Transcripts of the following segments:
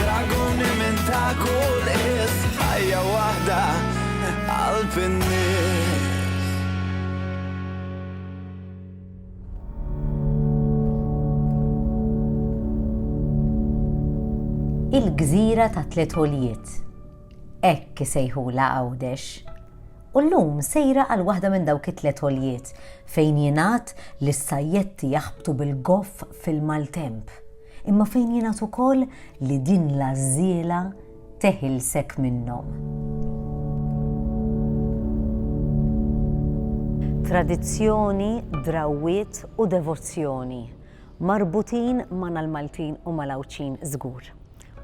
Draguni minn ta' kull is, ħajja waħda qalb in-nies. Il-gżira ta' tliet għoljiet. Hekk isejħulha Għawdex. U llum sejra għal waħda minn dawk it-tliet għoljiet fejn jingħad li s-sajjetti jaħbtu bil-goff fil-maltemp. Imma fejn jingħad ukoll li din l-għażżiela teħilsek minnhom. Tradizzjoni, drawwiet u devozzjoni marbutin magħna l-Maltin u mal-Għawdxin żgur.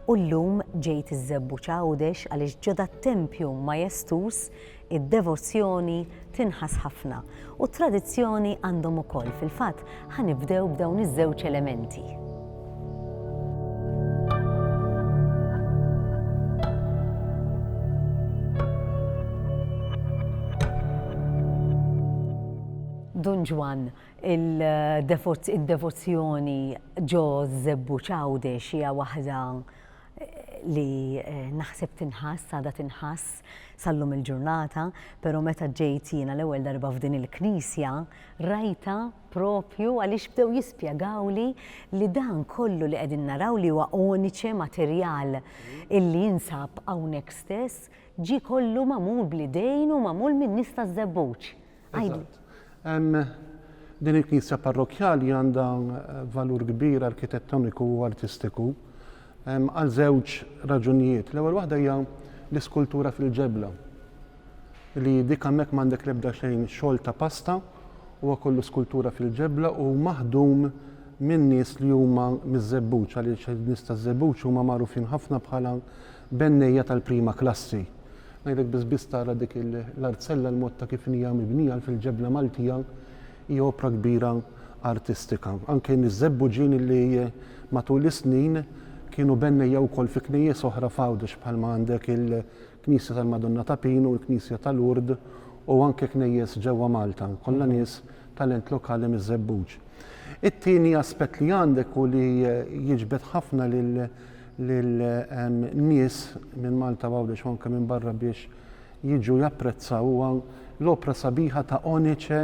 U llum ġejt iż-Żebbuġ Għawdex għaliex ġo dat-tempju majestus Id-devozzjoni tinħass ħafna u t-tradizzjoni għandhom ukoll, fil-fatt ħa nibdew b'dawn iż-żewġ elementi. Dun Ġwann, id-devozzjoni ġo Żebbuġ Għawdex hija waħda li naħseb tinħass, għadha tinħass sal-lum il-ġurnata, pero meta ġejt jiena l-ewwel darba f'din il-knisja, rajta propju għaliex bdew jispjegawli li dan kollu li qegħdin naraw li huwa oniċe materjal illi jinsab hawnhekk stess, ġie kollu magħmul bl-idejn u magħmul min-nies taż-Żebbuġ. Din il-knisja parrokkjali għandha valur kbir arkitettoniku u artistiku għal żewġ raġunijiet. L-ewwel waħda hija l-iskultura fil-ġebla li dik hemmhekk m'għandek l-ebda xejn xogħol ta' pasta huwa kollu skultura fil-ġebla u maħdum minn nies li huma miż-Żebbuġ għaliex in-nies taż-Żebbuġ huma magħrufin ħafna bħala Bennejja tal-prima klassi. Ngħidlek biss biss tara dik l-artzella l-mod ta' kif hija mibnija l fil-ġebla Maltija hi opra kbira artistika. Anke miż-żebbuġin li matul is-snin kienu bennejja wkoll fi knejjes oħra f'Għawdex bħalma għandek il-Knisja tal-Madonna ta' Pin u l-Knisja ta' Lourdes u anke knejjes ġewwa Malta. Kollha nies talent lokali miż-żebbuġ. It-tieni aspett li għandek u li jiġbed ħafna lil lil nies minn Malta u Għawdex u anke minn barra biex jiġu japprezzaw huwa l-opra sabiħa ta' onice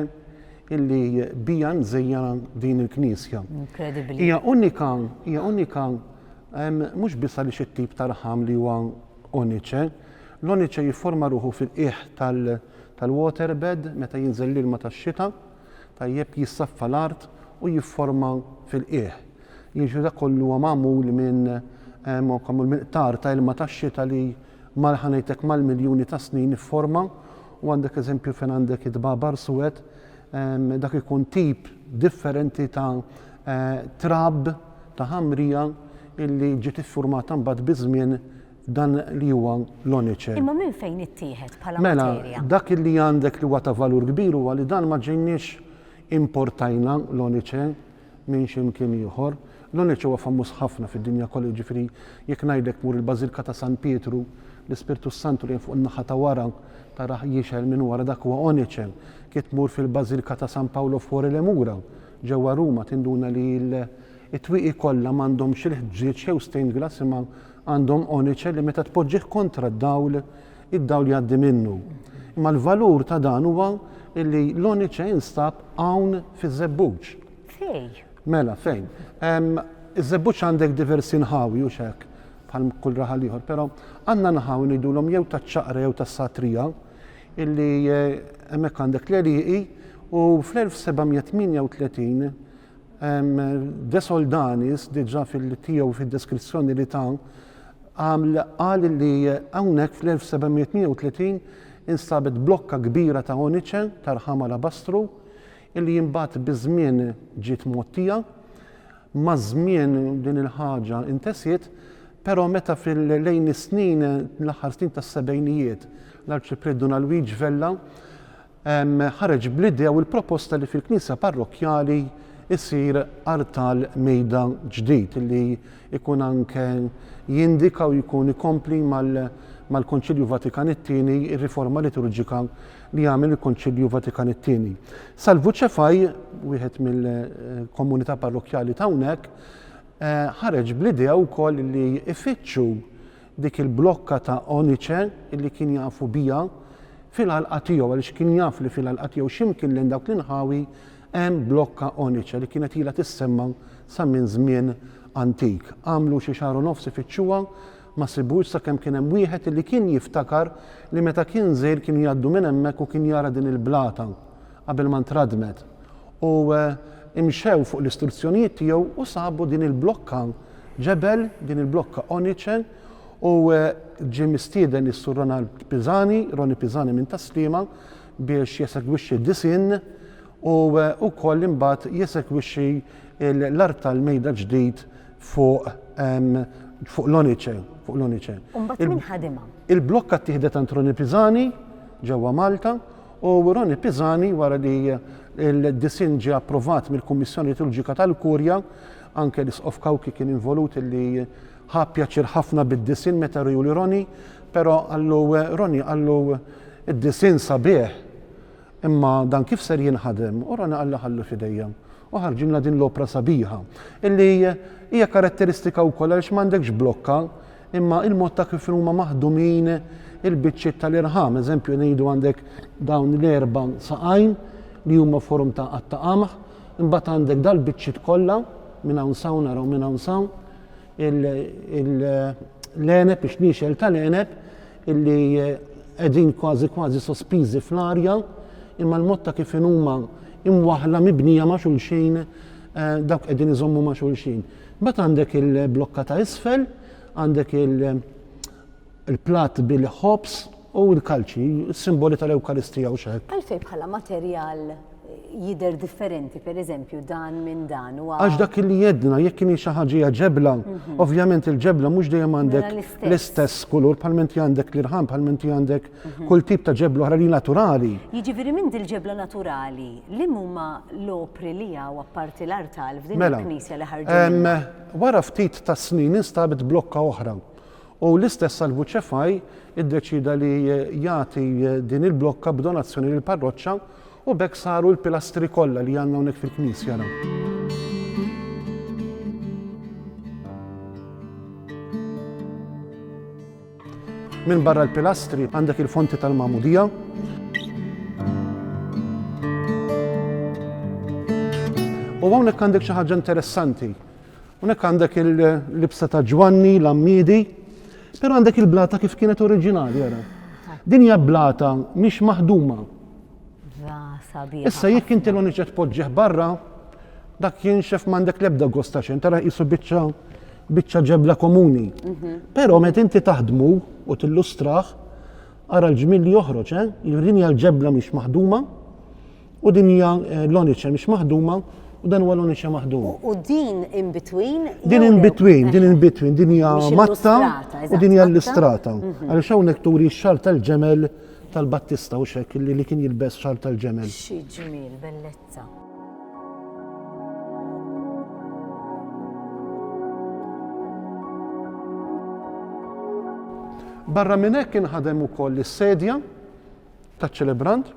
illi biha nżejjena din il-knisja. Incredibbli. Hija unika, hija unika mhux biss għaliex it-tip ta' raħam li huwa onice, l-onice jifforma ruħu fil-qiegħ tal-waterbed meta jinżel l-ilma tax-xita, tajjeb jissaffa l-art u jifforma fil-qiegħ. Jiġifieri dak kollu huwa magħmul minn magħmul minn qtar ta' ilma tax-xita li mal ħa ngħidlek mal-miljuni ta' snin ifforma u għandek eżempju fejn għandek id-dbabar suwed dak ikun tip differenti ta' trab ta' ħamrija illi ġiet iffurmata mbagħad biż-żmien dan li huwa l-oniċer. Imma minn fejn ittieħed bħala Mela, materja? dak li għandek li huwa ta' valur kbir huwa li dan ma ġejniex importajna l-oniċer minn xi mkien ieħor. L-oniċer huwa famuż ħafna fid-dinja kollha, jiġifieri jekk ngħidlek mur il-Bażilka ta' San Pietru, l-Ispirtu s-Santu li hemm fuq in-naħa ta' wara tarah jixgħel minn wara dak huwa oniċer. Kif tmur fil-Bażilka ta' San Paolo Fuori le Mura ġewwa Ruma tinduna li l, it-twieqi kollha m'għandhomx il-ħġieġ jew stained glass imma Għandhom onice li meta tpoġġih kontra d-dawl, id-dawl jgħaddi minnu. Imma l-valur ta' dan huwa illi l-onice jinstab hawn fiż-żebbuġ. Fej? Mela, fejn? Iż-żebbuġ għandek diversi nħawi u x'hekk, bħal kull raħal ieħor, però għandna nħawi ngħidulhom jew taċ-ċaqra jew tas-satrija illi eh, hemmhekk għandek l-għelieqi u fl-1738 De Soldanis diġà fil-tiegħu fid-deskrizzjoni li ta għaml qal li hawnhekk fl-1730 instabet blokka kbira ta' oniċe ta' rħam alabastru illi imbagħad biż-żmien ġiet mgħottija. Maż-żmien din il-ħaġa intesiet, però meta fil-lejn is-snin l-aħħar snin tas-sebgħinijiet l-Arċipriet Dun Alwiġ Vella ħareġ bl-idea u l-proposta li fil-knisja parrokkjali jsir artal mejda ġdid li jkun anke jindika u jkun ikompli mal-Konċilju Vatikan it-Tieni, ir-riforma liturġika li għamel il-Konċilju Vatikan it-Tieni. Salvu Ċefaj, wieħed mill-komunità parrokkjali ta' hawnhekk, eh, ħareġ bl-idea wkoll li jfittxu dik il-blokka ta' onice illi kien jafu biha fil-għalqa tiegħu għaliex kien jaf li fil-għalqa tiegħu x'imkien lejn dawk l-inħawi hemm blokka onice li kienet ilha tissemma sa minn żmien antik. Għamlu xi xahar u nofs ifittxuha ma sibuhiex sakemm kien hemm wieħed illi kien jiftakar li meta kien żgħir kienu jgħaddu minn hemmhekk u kien jara din il-blata qabel ma ntradmet U imxew fuq l-istruzzjonijiet tiegħu u sabu din il-blokka ġebel, din il-blokka oniċe, u ġie mistieden is-Sur Ronald Pisani, Roni Pisani minn Tas-Sliema, biex jesegwixxi d-disinn u wkoll imbagħad jesegwixxi l-art tal-mejda ġdid fuq fuq l-oniċe, fuq l-oniċe. U mbagħad min ħadimha? Il-blokka ttieħdet għand Roni Pisani ġewwa Malta, u Ronnie Pisani wara li l-disinn ġie approvat mill-Kummissjoni Liturġika tal-Kurja, anke l-Isqof Cauchi kien involut li ħa pjaċir ħafna bid-disinn meta riegħu li Ronnie, però qallu Ronnie qallu id-disinn sabiħ imma dan kif ser jinħadem u Ronnie qallu ħallu f'idejja u ħarġilna din l-opra sabiħa illi hija karatteristika wkoll għaliex m'għandekx blokka Imma il-mod ta' kif huma maħdumin il-biċċiet tal-irħam, eżempju ngħidu għandek dawn l-erba' saqajn li huma forum ta' qatta qamħ, imbagħad għandek dal-biċċiet kollha minn hawn sawn naraw minn hawn sawn l-għeneb ix-xniexel tal-għeneb illi qegħdin kważi kważi sospiżi fl-arja imma l-mod ta' kif huma imwaħħla mibnija ma' xulxin eh, dawk qegħdin iżommu ma' xulxin. Mbagħad għandek il-blokka ta' isfel, għandek il-platt bil-ħobż u l-kalċi, is-simboli tal-Ewkaristija u x'hekk. Għalfejn bħala materjal jidher differenti, per eżempju, dan minn dan. Għax dak li jedna, jekk kien xi ħaġija ġebla, mhm. ovvjament il-ġebla mhux dejjem għandek mela l-istess kulur, bħalmenti għandek l-irħam, bħalmenti għandek Kull tip ta' ġebla oħra li naturali. Jiġifieri minn dil-ġebla naturali, li huma l-opri li hawn apparti l-artal f'din mela, il-knisja li ħarġu? Wara ftit ta' snin instabet blokka oħra u l-istess Salvu Ċefaj iddeċida li jagħti din il-blokka b'donazzjoni lill-parroċċa u bekk saru l-pilastri kollha li għandna hawnhekk fil-knisja raw. Minbarra l-pilastri għandek il-fonti tal-Magħmudija. U hawnhekk għandek xi ħaġa interessanti. Hawnhekk għandek il-libsa ta' Ġwanni, l-Ammidi, però għandek il-blata kif kienet oriġinali, jara. Din hija blata mhix maħduma, Issa jekk inti l-uniċet poġġieħ barra, dak jinxef m'għandek l-ebda gosta xejn, tara qisu biċċa biċċa ġebla komuni. Mhm. Però meta inti taħdmu u tillustraħ, ara l-ġmil li joħroġ, eh? din hija l-ġebla mhix maħduma u din hija eh, l-oniċe mhix maħduma u dan huwa l-oniċe maħdum. U din in between? Din in between, din in between, din hija matta u din hija l-istrata. Mhm. Għaliex hawnhekk turi x-xar tal-ġemel tal-Battista hux hekk li li kien jilbes xarb tal-ġemel. Xi ġmiel, bellezza. Barra minn hekk inħadem ukoll is-sedja taċ-ċelebrant.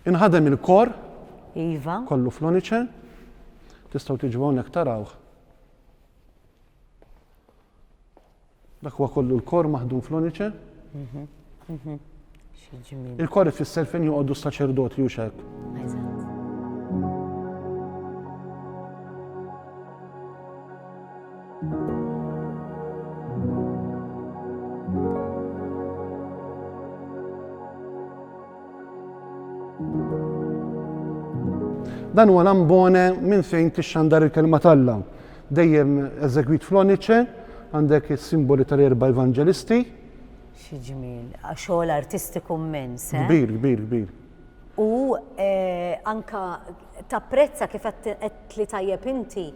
Inħadem il-kor. Iva. Kollu floniċe. Tistgħu tiġu hawnhekk tarawh. Dak huwa kollu l-kor maħdum fl-onice. Mhm, mhm. Il-kor ifisser fejn joqogħdu s-saċerdoti u xek. Dan huwa l-ambone minn fejn tixxandar il-kelma talla. Dejjem eżegwit fl-onice, għandek is-simboli tal-erba' Evanġelisti. Xi ġmiel, xogħol artistiku mmens, eh? Kbir, kbir, kbir. U anke tapprezza kif qed tli tajjeb inti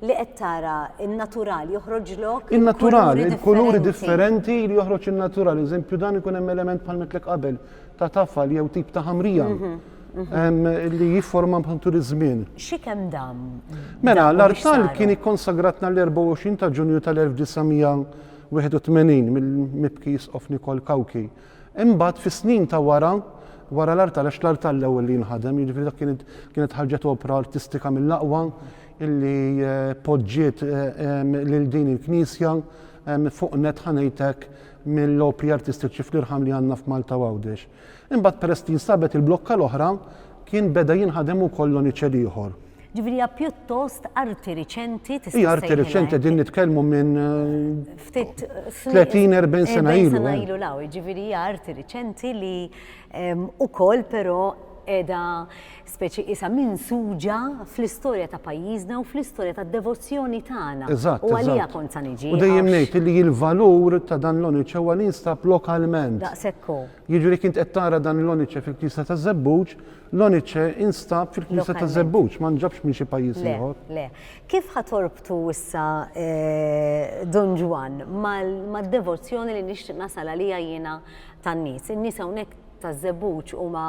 li qed tara n-natural joħroġlok. In-natural, il-kuluri differenti li joħroġ in-natural. Eżempju dan ikun hemm element bħal mitlek qabel ta' tafal jew tip ta' ħamrija. Mhm. li jifforma bħantur iż-żmien. Xikem dam? Mela, l-artal kien ikkonsagratna l-24 ta' ġunju tal-1981 mill-mibki jisqof Nikol Kawki. Imbagħad fis-snin ta' wara, wara l-artal, għax l-artal l-ewwel li nħadem, jiġifieri dak kienet ħarġet opra artistika mill-aqwa illi eh, poġġiet eh, lil din il-knisja fuq net ħanejtek mill-opri artistiċi fl-irħam li għandna f'Malta Għawdex. Imbagħad peress li nstabet il-blokka l-oħra, kien beda jinħadem ukoll l-oniċel ieħor. Ġifieri hija pjuttost arti riċenti tista' Hija arti riċenti qegħdin nitkellmu minn ftit 30-40 sena ilu. Sena eh. ilu law, ġifieri hija arti riċenti li ehm, ukoll però qiegħda Speċi qisha minsuġa fl-istorja ta' pajjiżna u fl-istorja tad-devozzjoni tagħna. Eżatt, U għaliha eżatt. kont sa niġi. U dejjem għax- ngħid li l-valur ta' dan l-onice huwa li jinstab lokalment. Daqshekk hu. Jiġri jekk int qed tara dan l-onice fil-Knisja taż-Żebbuġ, l-onice instab fil-Knisja Lokalment. taż-Żebbuġ, ma nġabx minn xi pajjiż Le, ieħor. le. Kif ħa torbtu issa eh, Dun Ġwann mal- mad-devozzjoni li nixtieq nasal għaliha jiena tan-nies? In-nies hawnhekk taż-Żebbuġ huma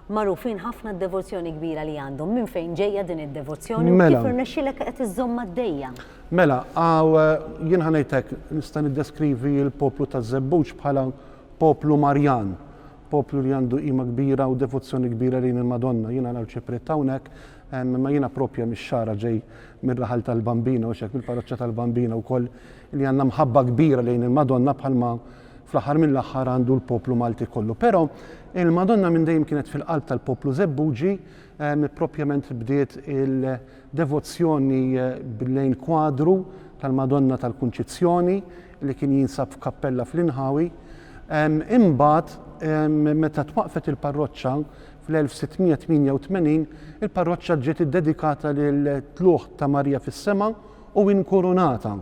magħrufin ħafna d-devozzjoni kbira li għandhom. Minn fejn ġejja din id-devozzjoni u mela. kif irnexxilek qed iżżomm għaddejja? Mela, għaw eh, jien ħanejtek nista' niddeskrivi l-poplu ta' Żebbuġ bħala poplu Marjan, poplu li għandu qima kbira u devozzjoni kbira lejn il-Madonna. Jiena għal ċipriet hawnhekk, eh, ma jiena propja mix-xara ġej mir-raħal tal-Bambina u xek mill-parroċċa tal-Bambina wkoll li għandna mħabba kbira lejn il-Madonna bħalma Fl-aħħar mill-aħħar għandu l-poplu Malti kollu. Però il-Madonna minn dejjem kienet fil-qalb tal-poplu Żebbuġi, ehm, propjament bdiet il-devozzjoni eh, lejn kwadru tal-Madonna tal-Kunċizzjoni li kien jinsab f'kappella fl-Inħawi. Ehm, imbagħad ehm, meta twaqfet il-parroċċa fl-1688, il-parroċċa ġiet iddedikata lil tluħ ta' Marija fis-sema u inkurunata.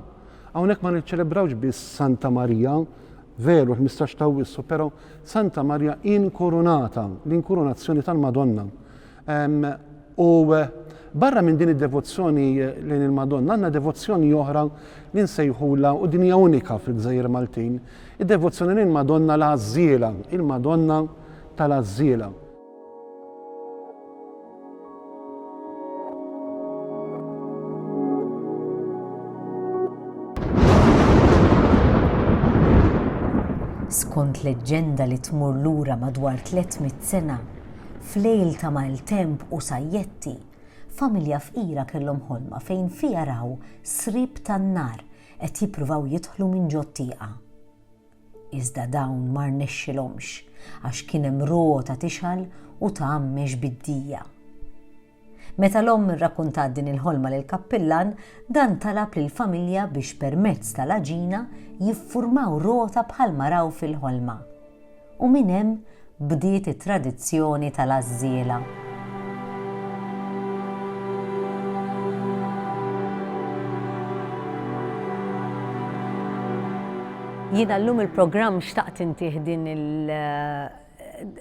Hawnhekk ma niċċelebrawx biss Santa Marija, veru l-ħmistax ta' Awwissu, però Santa Marija inkurunata, l-inkurunazzjoni tal-Madonna. Ehm, u eh, barra minn din id-devozzjoni eh, lejn il-Madonna, għandna devozzjoni oħra li nsejħula u din hija unika fil-Gżejjer Maltin, id-devozzjoni lejn Madonna l-Għażżiela, il-Madonna tal-Għażżiela. Skont leġġenda li tmur lura madwar 300 sena, f'lejl ta' maltemp u sajjetti, familja fqira kellhom ħolma fejn fiha raw sriep tan-nar qed jippruvaw jidħlu minn ġo t-tieqa. Iżda dawn ma rnexxilhomx għax kien hemm rota tixgħal u tgħammex bid-dija. Meta l-omm irrakuntat din il-ħolma lill-kappillan, dan talab lill-familja biex permezz tal-għaġina jiffurmaw rota bħalma raw fil-ħolma. U minn hemm bdiet it-tradizzjoni tal-għażżiela. Jiena llum il-programm xtaqt intih din il-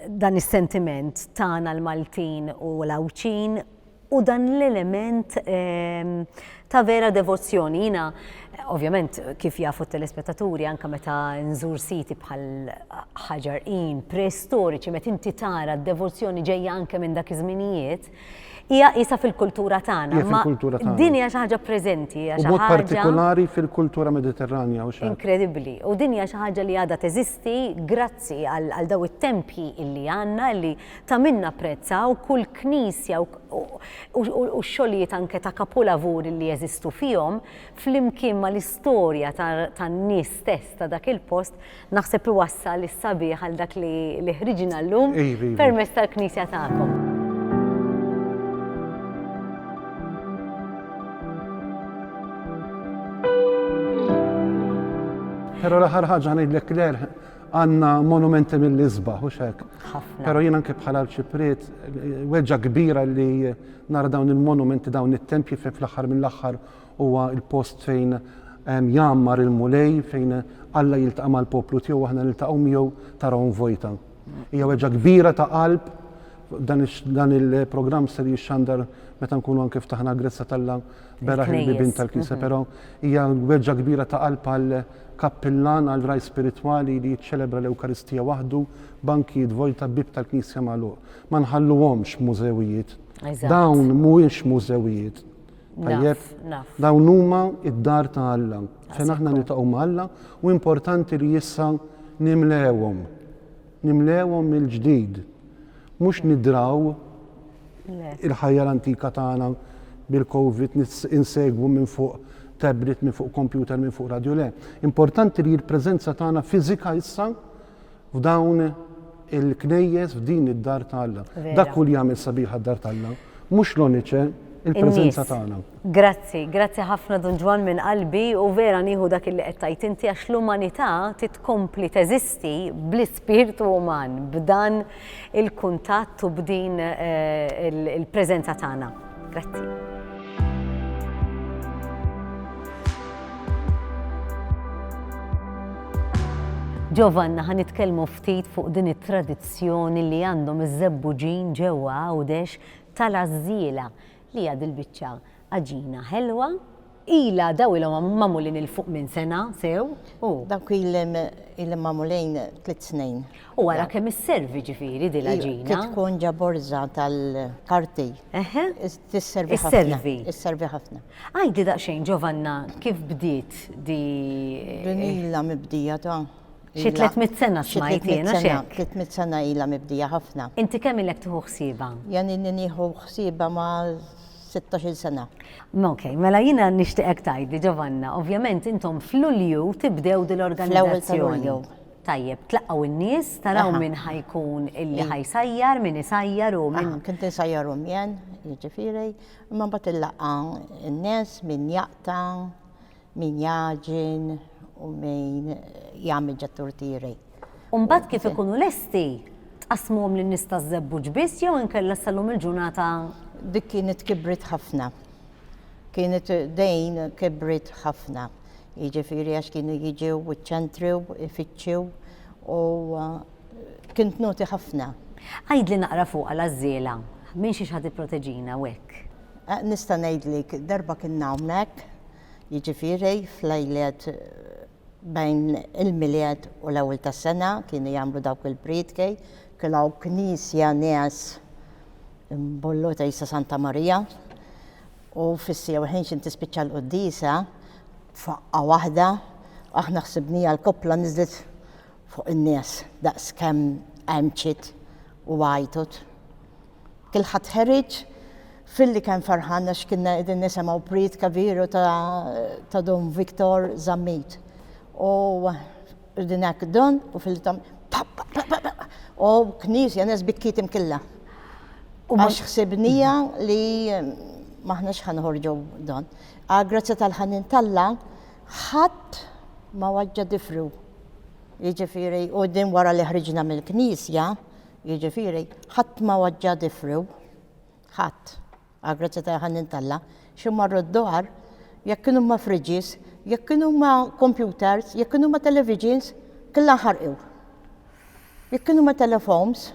dan is-sentiment tagħna l-Maltin u l-Għawdxin u dan l-element ehm, ta' vera devozzjoni. Jina, ovvjament, kif jafu t-telespettaturi, anka meta nżur siti bħal ħaġar in, preistoriċi, meta inti tara d-devozzjoni ġejja anke minn dak iż-żminijiet, hija isa fil-kultura tagħna. Ma din hija xi ħaġa preżenti, hija xi ħaġa partikolari fil-kultura Mediterranja u xi. Inkredibbli. U din hija xi ħaġa li għadha teżisti grazzi għal daw it-tempji illi għandna li Ta' min napprezza u kull knisja u x-xogħlijiet anke ta' kapulavuri li jeżistu fihom, flimkien mal-istorja tan-nies stess ta' dak il-post, naħseb iwassal is-sabiħ għal dak li ħriġna llum permezz tal-knisja tagħkom. Però l-aħħar ħaġa ngħidlek Claire, Għanna monumenti mill-isbaħ, u xek. Pero jien anke bħala l-ċiprit, weġġa kbira li nara dawn il-monumenti, dawn it-tempji fejn fl-axar mill-axar huwa il-post fejn ehm, jammar il-mulej, fejn Alla jiltaqa' mal-poplu tiegħu aħna niltaqgħu miegħu tarahom vojta. Hija weġġa kbira ta' qalb dan il-programm ser jixxandar meta nkunu anke ftaħna l-grezza tal-la beraħ il-bibin tal-kisa, pero hija weġġa kbira ta' qalb għal Kappillan għal ragħaj spiritwali li jiċċelebra l-Ewkaristija waħdu, bankijiet vojta, bieb tal-knisja magħluq. Ma nħalluhomx mużewijiet. Dawn mhuwiex mużewijiet. Tajjeb? Dawn huma d-dar ta' Alla, fejn aħna niltaqgħu ma' Alla u importanti li issa nimlewhom. Nimlewhom mill-ġdid, mhux nidraw il-ħajja l-antika tagħna bil-Covid, insegwu minn fuq tablet, minn fuq kompjuter, minn fuq radju, le. Importanti li l-preżenza tagħna fiżika issa f'dawn il-knejjes, f'din id-dar ta' Alla. Dak hu li jagħmel sabiħa d-dar ta' Alla, mhux l-onice, il-preżenza tagħna. Grazzi, grazzi ħafna Dun Ġwann minn qalbi u vera nieħu dak illi qed tgħid inti għax l-umanità titkompli teżisti bl-ispirtu uman, b'dan il-kuntatt u b'din eh, il-preżenza tagħna. Grazzi. Giovanna ħan nitkellmu ftit fuq din it-tradizzjoni li għandhom iż-żebbuġin ġewwa għawdex tal-azziela Li hija dil-biċċa għaġina ħelwa. Ilha daw ilhom magħmulin 'il fuq minn sena sew, u. Dawk ilhom magħmulin tliet snin. U ara kemm isservi ġifieri dil għaġina. Trid tkun ġa borża tal-karti. Eħe. Tisservi ħafna. Isservi. Isservi ħafna. Għidli daqsxejn Ġovanna kif bdiet di. Din ilha mibdija ta' Xi 300 sena smajt jiena xek. 300 sena ilha mibdija ħafna. Inti kemm ilek tieħu ħsieba? Jan inni nieħu ħsieba ma' 16 sena. Ok, mela jiena nixtieqek tgħidli Giovanna, ovvjament intom f'Lulju tibdew din l-organizzazzjoni. Tajjeb, tlaqgħu n-nies, taraw min ħajkun illi ħajsajjar, min isajjar u min. Kien tisajjar u mjen, jiġifieri, imma mbagħad il-laqgħa n-nies, min jaqta, Min jagħġin u min jagħmel ġat-turtieri. U mbagħad kif ikunu lesti, tqassmuhom lin-nies taż-Żebbuġ biss jew inkella ssallhom il-ġurnata? Dik kienet kibret ħafna. Kienet dejn kibret ħafna. Jiġifieri għax kienu jiġew u ċċentriw, ifittxu u kien tnoti ħafna. Għidli naqra fuqha l-għażżiela. Minn xiex ħa tipproteġina u hekk? Eh, nista' ngħidlik, darba kien hawnhekk, jiġifieri fl-lejliet eh, bejn il-miliet u l-ewwel tas-sena kienu jagħmlu dawk il-prietki, kilaw knisja nies mbollu ta' Isa Santa Marija u fissi u ħinx inti spiċċa l-qoddisa faqqa waħda aħna ħsibnija l-koppla nizlit fuq in-nies daqs kemm għemċit u għajtut. Kulħadd ħeriġ filli kemm ferħan għax kinna qegħdin nisemgħu prietka viru ta' ta' Don Victor Zammit. U qegħdin hekk Don u filli tam u knisja nes bikkiet imkilla. U għax ħsibnija li maħniex ħanħorġu Don. Għal grazzja tal-ħanin t'Alla ħadd ma waġġa' difru. Jiġifieri u din wara li ħriġna mill-knisja, Jiġifieri, ħadd ma waġġa' difriw, ħadd, għall-grazzja ta' Ħannin t'Alla, xi marru d-dwar, jekk kienu huma fridges, jekk kienu huma kompjuters, jekk kienu huma televisions, kellha nħarqu. Jekk kienu huma telefones,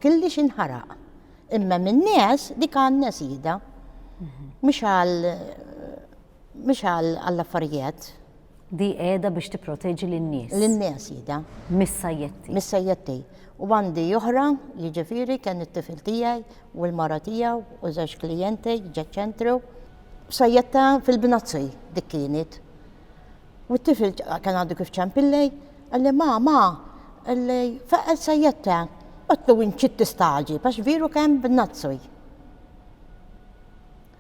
kellhiex inħaraq. Imma min-nies dik għan-nies hija. Mhux għal Mhix għall-affarijiet. Di qiegħda biex tipproteġi lin-nies. Lin-nies qiegħda. Mis-sajjetti. Mis-sajjetti. U għandi oħra, jiġifieri kien it-tifel tiegħi u l-mara tiegħu u żewġ klijenti ġeċ ċentru. Sajjetta fil-bnazzi dik kienet. U t-tifel kien għadu kif ċempillej, għalli ma, ma, għalli faqqa sajjetta, għatlu inċit tistaġi, pax viru kemm b'nazzuj.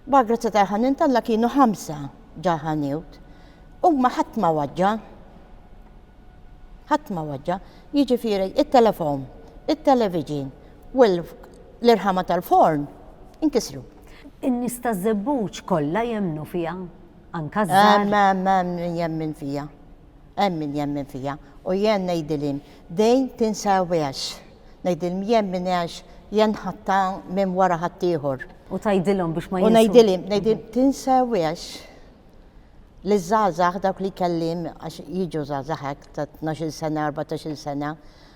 Bar-grazzja tal-ħanien t'Alla kienu ħamsa ġa ħanewt. Huma ħadd ma waġġa. Ħadd ma waġġa. Jiġifieri it-telefon, it-televiġin u l-irħama tal-forn inkisru. In-nies taż-Żebbuġ kollha jemmnu fiha? Anke ż-żgħar? Hemm, hemm, hemm min jemmen fiha. Hemm min jemmen fija, u jien ngħidilhim, Dejn tinsewhiex. Ngħidilhim, Jemmen għax jien nħatta minn wara ħaddieħor. U tgħidilhom biex ma jinsewhiex. U ngħidilhim, ngħidilhim, tinsewhiex liż-żgħażagħ dawk li kellhim għax jiġu żgħażagħ hekk ta' tnax-il sena, erbatax-il sena,